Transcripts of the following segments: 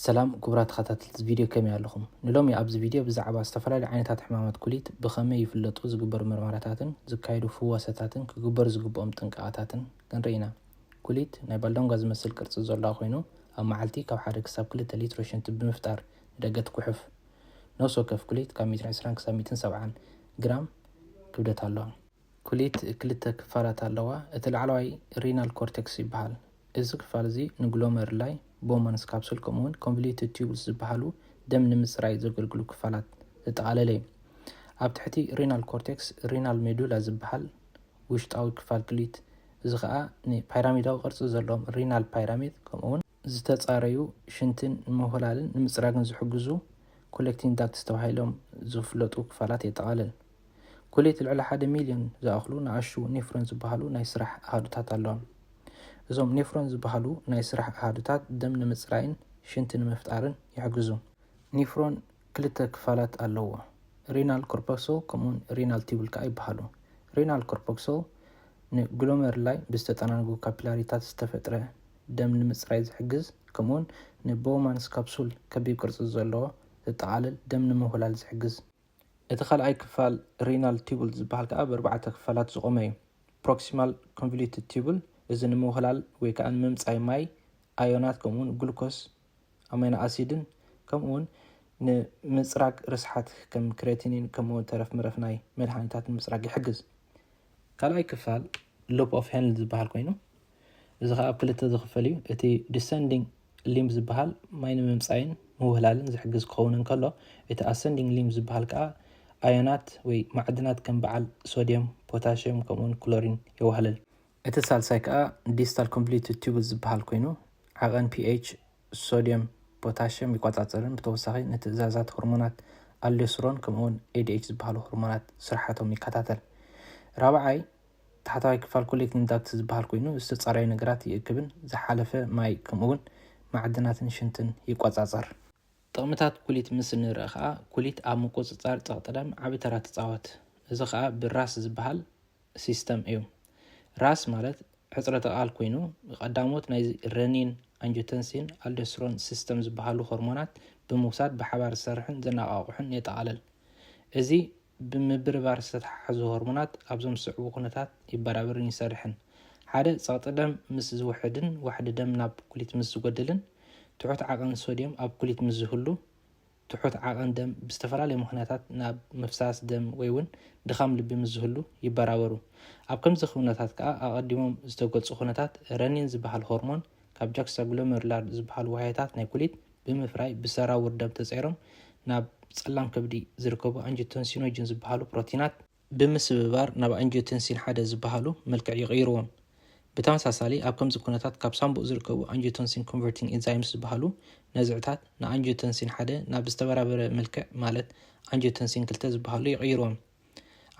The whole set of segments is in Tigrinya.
ሰላም ክቡራት ተኸታተልቲ እዚ ቪድዮ ከመይ ኣለኹም? ንሎሚ ኣብዚ ቪድዮ ብዛዕባ ዝተፈላለዩ ዓይነታት ሕማማት ኩሊት ብኸመይ ይፍለጡ፣ ዝግበሩ ምርመራታትን ዝካየዱ ፍወሰታትን ክግበሩ ዝግብኦም ጥንቃቐታትን ክንርኢ ኢና። ኩሊት ናይ ባልዳንጓ ዝመስል ቅርጺ ዘሎዋ ኮይኑ ኣብ መዓልቲ ካብ ሓደ ክሳብ ክልተ ሊትሮ ሽንቲ ብምፍጣር ንደገ ትጉሕፍ። ነፍሲ ወከፍ ኩሊት ካብ ሚእትን ዕስራን ክሳብ ሚእትን ሰብዓን ግራም ክብደት ኣሎዋ። ኩሊት ክልተ ክፋላት ኣለዋ፣ እቲ ላዕለዋይ ሪናል ኮርተክስ ይበሃል። እዚ ክፋል እዚ ንግሎመሩላይ፣ ቦውማንስ ካፕሱል ከምኡውን ኮንቮሉትድ ቲዩብልስ ዝበሃሉ ደም ንምጽራይ ዘገልግሉ ክፋላት ዘጠቓለለ እዩ። ኣብ ትሕቲ ሪናል ኮርተክስ ሪናል ሜዱላ ዝበሃል ውሽጣዊ ክፋል ኩሊት እዚ ኸኣ ንፓይራሚዳዊ ቅርጺ ዘለዎም ሪናል ፓይራሚድ ከምኡውን ዝተፃረዩ ሽንትን ንምውህላልን ንምፅራግን ዝሕግዙ ኮሌክቲንግ ዳክትስ ተባሂሎም ዝፍለጡ ክፋላት የጠቓልል። ኩሌት ልዕሊ ሓደ ሚልዮን ዝኣኽሉ ንኣሽቱ ኔፍሮን ዝበሃሉ ናይ ስራሕ ኣሃዱታት ኣለዋ። እዞም ኔፍሮን ዝበሃሉ ናይ ስራሕ ኣሃዱታት ደም ንምፅራይን ሽንቲ ንምፍጣርን ይሕግዙ። ኔፍሮን ክልተ ክፋላት ኣለዎ። ሪናል ኮርፐክሶል ከምኡውን ሪናል ቲቡል ከዓ ይበሃሉ። ሪናል ኮርፐክሶል ንግሎመርላይ ብዝተጠናንጉ ካፒላሪታት ዝተፈጥረ ደም ንምጽራይ ዝሕግዝ ከምኡውን ንቦውማንስ ካፕሱል ከቢብ ቅርጺ ዘለዎ ዘጠቓልል ደም ንምውህላል ዝሕግዝ። እቲ ካልኣይ ክፋል ሪናል ቲቡል ዝበሃል ከኣ ብኣርባዕተ ክፋላት ዝቖመ እዩ። ፕሮክሲማል ኮንቮሉትድ ቲቡል፣ እዚ ንምውህላል ወይ ከኣ ንምምጻይ ማይ፣ ኣዮናት ከምኡውን ግሉኮስ ኣማይኖ ኣሲድን ከምኡውን ንምጽራግ ርስሓት ከም ክሬቲኒን ከምኡውን ተረፍ ምረፍ ናይ መድሃኒታት ንምጽራግ ይሕግዝ። ካልኣይ ክፋል ሉፕ ኦፍ ሄንል ዝበሃል ኮይኑ እዚ ከዓ ኣብ ክልተ ዝኽፈል እዩ። እቲ ዲሰንዲንግ ሊምብ ዝበሃል ማይ ንምምፃይን ምውህላልን ዝሕግዝ ክኸውን እንከሎ እቲ ኣሰንዲንግ ሊምብ ዝበሃል ከዓ ኣዮናት ወይ ማዕድናት ከም በዓል ሶድየም፣ ፖታሽየም ከምኡውን ክሎሪን የዋህልል። እቲ ሳልሳይ ከኣ ዲስታል ኮንቭሊዩትድ ቲዩቡል ዝበሃል ኮይኑ፣ ዓቐን ፒኤች ሶድየም ፖታሽየም ይቆጻጸርን ብተወሳኺ ንትእዛዛት ሆርሞናት ኣልዶስሮን ከምኡ'ውን ኤዲኤች ዝበሃሉ ሆርሞናት ስርሓቶም ይከታተል። ራብዓይ ታሕተዋይ ክፋል ኮሌክቲንግ ዳክት ዝበሃል ኮይኑ፣ ዝተጻረዩ ነገራት ይእክብን ዝሓለፈ ማይ ከምኡ'ውን ማዕድናትን ሽንትን ይቆጻጸር። ጥቕምታት ኩሊት ምስ እንርእ ከኣ ኩሊት ኣብ ምቁጽጻር ጸቕጢ ደም ዓቢ ተራ ትጻወት። እዚ ከኣ ብራስ ዝበሃል ሲስተም እዩ። ራስ ማለት ሕጽረተ ቃል ኮይኑ ቀዳሞት ናይ ረኒን፣ ኣንጆተንሲን፣ ኣልዶስትሮን ሲስተም ዝበሃሉ ሆርሞናት ብምውሳድ ብሓባር ዝሰርሕን ዘነቓቕሑን የጠቓልል። እዚ ብምብርባር ዝተተሓሓዙ ሆርሞናት ኣብዞም ዝስዕቡ ኩነታት ይበራብርን ይሰርሕን። ሓደ ጸቕጢ ደም ምስ ዝውሕድን ዋሕዲ ደም ናብ ኩሊት ምስ ዝጎድልን ትሑት ዓቐን ሶድየም ኣብ ኩሊት ምስ ዝህሉ ትሑት ዓቐን ደም ብዝተፈላለየ ምኽንያታት ናብ ምፍሳስ ደም ወይ'ውን ድኻም ልቢ ምስ ዝህሉ ይበራበሩ። ኣብ ከምዚ ኩነታት ከኣ ኣቐዲሞም ዝተገልጹ ኩነታት ረኒን ዝበሃል ሆርሞን ካብ ጃክስታግሎመሩላር ዝበሃሉ ዋህዮታት ናይ ኩሊት ብምፍራይ ብሰራውር ደም ተጸይሮም ናብ ጸላም ከብዲ ዝርከቡ ኣንጂቶንሲኖጅን ዝበሃሉ ፕሮቲናት ብምስብባር ናብ ኣንጂዮተንሲን ሓደ ዝበሃሉ መልክዕ ይቕይርዎም። ብተመሳሳሊ ኣብ ከምዚ ኩነታት ካብ ሳምቡእ ዝርከቡ ኣንጂዮተንሲን ኮንቨርቲንግ ኤንዛይምስ ዝበሃሉ ነዝዕታት ንኣንጂዮተንሲን ሓደ ናብ ዝተበራበረ መልክዕ ማለት ኣንጂዮተንሲን ክልተ ዝበሃሉ ይቕይርዎም።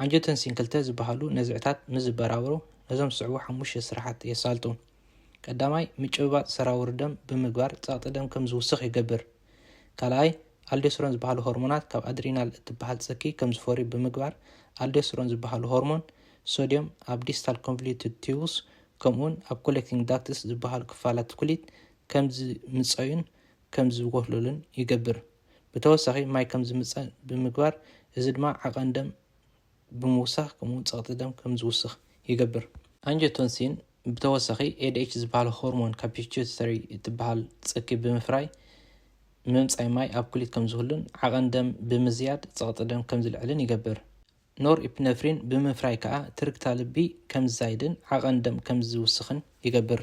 ኣንጂዮተንሲን ክልተ ዝበሃሉ ነዝዕታት ምስ ዝበራበሩ ነዞም ዝስዕቡ ሓሙሽተ ስራሓት የሳልጡ። ቀዳማይ፣ ምጭብባጥ ሰራውር ደም ብምግባር ጸቕጢ ደም ከም ዝውስኽ ይገብር። ካልኣይ፣ ኣልዶስትሮን ዝበሃሉ ሆርሞናት ካብ ኣድሪናል እትበሃል ጽኪ ከም ዝፈርዩ ብምግባር፣ ኣልዶስትሮን ዝበሃሉ ሆርሞን ሶድዮም ኣብ ዲስታል ኮንቮሉትድ ቲዩብስ ከምኡውን ኣብ ኮሌክቲንግ ዳክትስ ዝበሃሉ ክፋላት ኩሊት ከም ዝምጸዩን ከም ዝጎህለሉን ይገብር። ብተወሳኺ ማይ ከም ዝምጸ ብምግባር እዚ ድማ ዓቐን ደም ብምውሳኽ ከምኡውን ጸቕጢ ደም ከም ዝውስኽ ይገብር። ኣንጀቶንሲን ብተወሳኺ ኤድኤች ዝበሃል ሆርሞን ካብ ፒትዩተሪ እትበሃል ጽኪ ብምፍራይ ምምጻይ ማይ ኣብ ኩሊት ከም ዝህሉን ዓቐን ደም ብምዝያድ ጸቕጢ ደም ከም ዝልዕልን ይገብር። ኖርኢፕነፍሪን ብምፍራይ ከኣ ትርግታ ልቢ ከም ዝዛይድን ዓቐን ደም ከም ዝውስኽን ይገብር።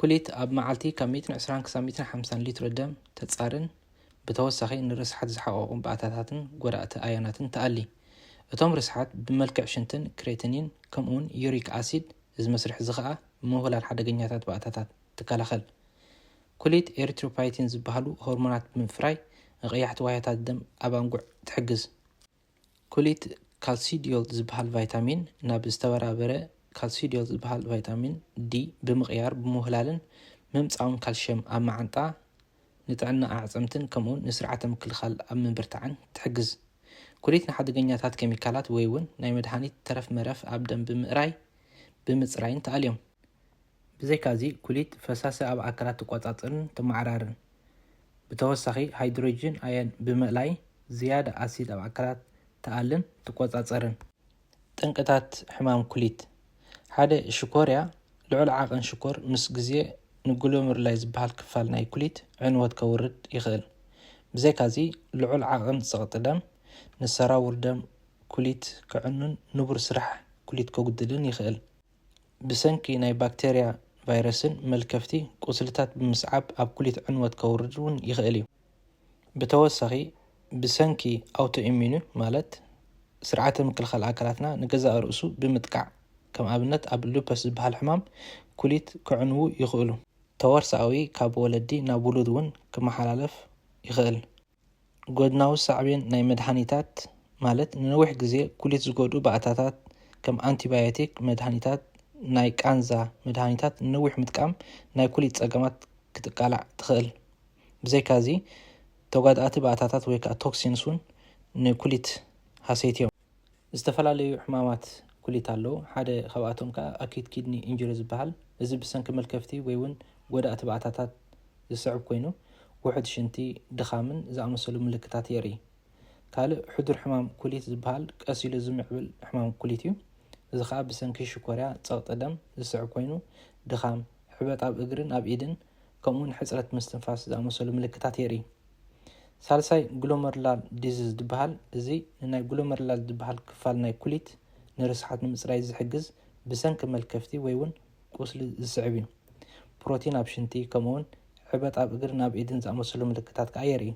ኩሊት ኣብ መዓልቲ ካብ ሚእትን ዕስራን ክሳብ ሚእትን ሓምሳን ሊትሮ ደም ተጻርን ብተወሳኺ ንርስሓት ዝሓቐቑ ባእታታትን ጎዳእቲ ኣዮናትን ትኣሊ። እቶም ርስሓት ብመልክዕ ሽንትን ክሬትኒን ከምኡውን ዩሪክ ኣሲድ እዚ መስርሕ እዚ ኸኣ ምውህላል ሓደገኛታት ባእታታት ትከላኸል። ኩሊት ኤሪትሮፓይቲን ዝበሃሉ ሆርሞናት ብምፍራይ ንቐያሕቲ ዋህዮታት ደም ኣብ ኣንጉዕ ትሕግዝ። ኩሊት ካልሲዲዮል ዝበሃል ቫይታሚን ናብ ዝተበራበረ ካልሲዲዮል ዝበሃል ቫይታሚን ዲ ብምቕያር ብምውህላልን ምምፃውን ካልሽየም ኣብ መዓንጣ ንጥዕና ኣዕፅምትን ከምኡውን ንስርዓተ ምክልኻል ኣብ ምብርታዕን ትሕግዝ። ኩሊት ንሓደገኛታት ኬሚካላት ወይ እውን ናይ መድሃኒት ተረፍ መረፍ ኣብ ደም ብምእራይ ብምፅራይን ተኣልዮም። ብዘይካዚ ኩሊት ፈሳሲ ኣብ ኣካላት ትቆፃፅርን ተመዓራርን። ብተወሳኺ ሃይድሮጅን ኣዮን ብምእላይ ዝያዳ ኣሲድ ኣብ ኣካላት ትኣልን ትቆጻጸርን። ጠንቅታት ሕማም ኩሊት ሓደ ሽኮርያ ልዑል ዓቕን ሽኮር ምስ ግዜ ንግሎመሩላይ ዝበሃል ክፋል ናይ ኩሊት ዕንወት ከውርድ ይኽእል። ብዘይካዚ ልዑል ዓቕን ጸቕጢ ደም ንሰራውር ደም ኩሊት ከዕኑን ንቡር ስራሕ ኩሊት ከጉድልን ይኽእል። ብሰንኪ ናይ ባክተርያ ቫይረስን መልከፍቲ ቁስልታት ብምስዓብ ኣብ ኩሊት ዕንወት ከውርድ እውን ይኸእል እዩ። ብተወሳኺ ብሰንኪ ኣውቶኢሚኑ ማለት ስርዓተ ምክልኻል ኣካላትና ንገዛእ ርእሱ ብምጥቃዕ ከም ኣብነት ኣብ ሉፐስ ዝበሃል ሕማም ኩሊት ከዕንዉ ይኸእሉ። ተዋርሳኣዊ ካብ ወለዲ ናብ ውሉድ እውን ክመሓላለፍ ይኸእል። ጎድናዊ ሳዕቤን ናይ መድሃኒታት ማለት ንነዊሕ ግዜ ኩሊት ዝጎድኡ ባእታታት ከም ኣንቲባዮቲክ መድሃኒታት ናይ ቃንዛ መድሃኒታት ንነዊሕ ምጥቃም ናይ ኩሊት ጸገማት ክትቃላዕ ትኽእል። ብዘይካዚ ተጓዳእቲ ባእታታት ወይ ከኣ ቶክሲንስ ውን ንኩሊት ሃሰይቲዮም። ዝተፈላለዩ ሕማማት ኩሊት ኣለዉ፣ ሓደ ካብኣቶም ከኣ ኣክዩት ኪድኒ ኢንጁሪ ዝበሃል፣ እዚ ብሰንኪ መልከፍቲ ወይ'ውን ጐዳእቲ ባእታታት ዝስዕብ ኰይኑ፣ ውሑድ ሽንቲ፣ ድኻምን ዝኣመሰሉ ምልክታት የርኢ። ካልእ ሕዱር ሕማም ኩሊት ዝበሃል ቀስ ኢሉ ዝምዕብል ሕማም ኩሊት እዩ፣ እዚ ከኣ ብሰንኪ ሽኮርያ፣ ጸቕጢ ደም፣ ዝስዕብ ኰይኑ፣ ድኻም፣ ሕበጥ ኣብ እግርን ኣብ ኢድን ከምኡ'ውን ሕጽረት ምስትንፋስ ዝኣመሰሉ ምልክታት የርኢ። ሳልሳይ ግሎመርላር ዲዝዝ ድበሃል እዚ ንናይ ግሎመርላር ድበሃል ክፋል ናይ ኩሊት ንርስሓት ንምጽራይ ዝሕግዝ ብሰንኪ መልከፍቲ ወይ ውን ቁስሊ ዝስዕብ እዩ። ፕሮቲን ኣብ ሽንቲ ከምኡውን ዕበጥ ኣብ እግርን ኣብ ኢድን ዝኣመሰሉ ምልክታት ከኣ የርኢ።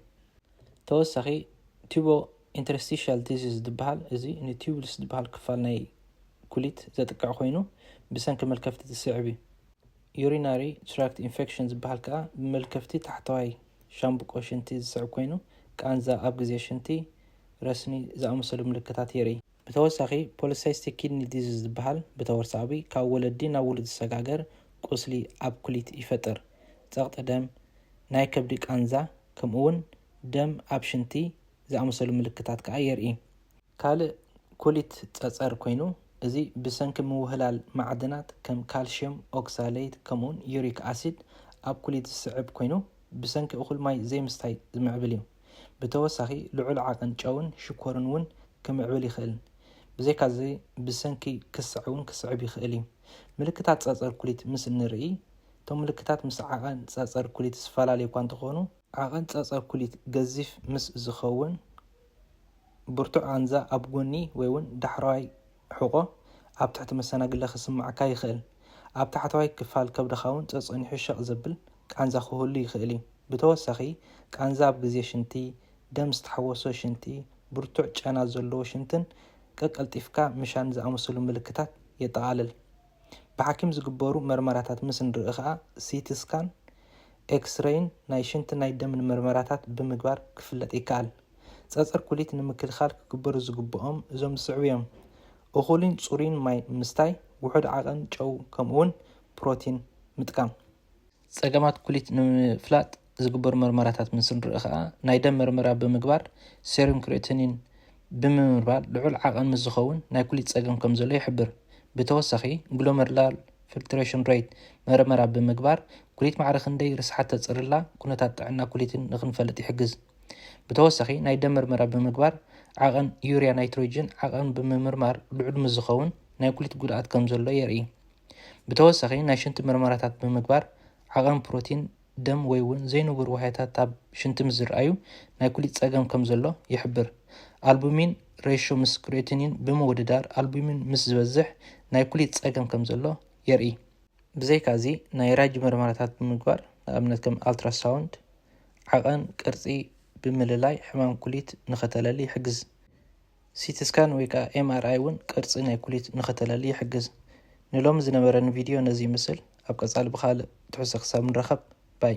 ተወሳኺ ቱቦ ኢንተርስትሽያል ዲዝዝ ድበሃል እዚ ንቱቡልስ ድበሃል ክፋል ናይ ኩሊት ዘጥቅዕ ኮይኑ ብሰንኪ መልከፍቲ ዝስዕብ እዩ። ዩሪናሪ ትራክት ኢንፌክሽን ዝበሃል ከኣ ብመልከፍቲ ታሕተዋይ ሻምብቆ ሽንቲ ዝስዕብ ኮይኑ፣ ቃንዛ ኣብ ግዜ ሽንቲ፣ ረስኒ ዝኣመሰሉ ምልክታት የርኢ። ብተወሳኺ ፖሊሳይስቲክ ኪድኒ ዲዚዝ ዝበሃል ብተወርሳኣዊ ካብ ወለዲ ናብ ውሉድ ዝሰጋገር ቁስሊ ኣብ ኩሊት ይፈጥር። ጸቕጢ ደም፣ ናይ ከብዲ ቃንዛ ከምኡ'ውን ደም ኣብ ሽንቲ ዝኣመሰሉ ምልክታት ከኣ የርኢ። ካልእ ኩሊት ጸጸር ኮይኑ፣ እዚ ብሰንኪ ምውህላል ማዕድናት ከም ካልሽየም ኦክሳሌይት ከምኡውን ዩሪክ ኣሲድ ኣብ ኩሊት ዝስዕብ ኮይኑ፣ ብሰንኪ እኹል ማይ ዘይምስታይ ዝምዕብል እዩ። ብተወሳኺ ልዑል ዓቐን ጨውን ሽኮርን እውን ክምዕብል ይኽእል። ብዘይካዚ ብሰንኪ ክሰዕ እውን ክስዕብ ይኽእል እዩ። ምልክታት ጸጸር ኩሊት ምስ እንርእይ፣ እቶም ምልክታት ምስ ዓቐን ጸጸር ኩሊት ዝፈላለዩ እኳ እንተኾኑ፣ ዓቐን ጸጸር ኩሊት ገዚፍ ምስ ዝኸውን፣ ብርቱዕ ቓንዛ ኣብ ጎኒ ወይ'ውን ዳሕረዋይ ሕቖ ኣብ ትሕቲ መሰናግለ ክስምዓካ ይኽእል። ኣብ ታሕተዋይ ክፋል ከብድኻ'ውን ጸጸኒሑ ሸቕ ዘብል ቃንዛ ክህሉ ይኽእል እዩ። ብተወሳኺ፣ ቃንዛ ኣብ ግዜ ሽንቲ፣ ደም ዝተሓወሶ ሽንቲ፣ ብርቱዕ ጨና ዘለዎ ሽንትን ቀቀልጢፍካ ምሻን ዝኣመሰሉ ምልክታት የጠቓልል። ብሓኪም ዝግበሩ መርመራታት ምስ እንርኢ ከኣ ሲቲ ስካን፣ ኤክስረይን ናይ ሽንትን ናይ ደምን መርመራታት ብምግባር ክፍለጥ ይከኣል። ጸጸር ኩሊት ንምክልኻል ክግበሩ ዝግበኦም እዞም ዝስዕቡ እዮም፣ እኹልን ጽሩይን ማይ ምስታይ፣ ውሑድ ዓቐን ጨው ከምኡ'ውን ፕሮቲን ምጥቃም። ጸገማት ኩሊት ንምፍላጥ ዝግበሩ መርመራታት ምስ ንርኢ ከኣ፣ ናይ ደም መርመራ ብምግባር ሴሩም ክሪኤቲኒን ብምምርማር ልዑል ዓቐን ምስ ዝኸውን ናይ ኩሊት ጸገም ከም ዘሎ ይሕብር። ብተወሳኺ ግሎመርላር ፊልትሬሽን ሬት መርመራ ብምግባር ኩሊት ማዕረ ክንደይ ርስሓት ተጽርላ ኩነታት ጥዕና ኩሊትን ንክንፈልጥ ይሕግዝ። ብተወሳኺ ናይ ደም መርመራ ብምግባር ዓቐን ዩርያ ናይትሮጅን ዓቐን ብምምርማር ልዑል ምስ ዝኸውን ናይ ኩሊት ጉድኣት ከም ዘሎ የርኢ። ብተወሳኺ ናይ ሽንቲ ምርመራታት ብምግባር ዓቐን ፕሮቲን ደም ወይ እውን ዘይንቡር ዋህያታት ኣብ ሽንቲ ምስ ዝርኣዩ ናይ ኩሊት ጸገም ከም ዘሎ ይሕብር። ኣልቡሚን ሬሾ ምስ ክሬቲኒን ብምውድዳር ኣልቡሚን ምስ ዝበዝሕ ናይ ኩሊት ጸገም ከም ዘሎ የርኢ። ብዘይካዚ ናይ ራጂ ምርመራታት ብምግባር ንኣብነት ከም ኣልትራሳውንድ ዓቐን ቅርጺ ብምልላይ ሕማም ኩሊት ንኸተለሊ ይሕግዝ። ሲቲ ስካን ወይ ከኣ MRI ውን ቅርጺ ናይ ኩሊት ንኸተላሊ ይሕግዝ። ንሎሚ ዝነበረኒ ቪድዮ ነዚ ይምስል ኣብ ቀጻሊ ብኻልእ ትሕዝቶ ክሳብ ንራኸብ ባይ።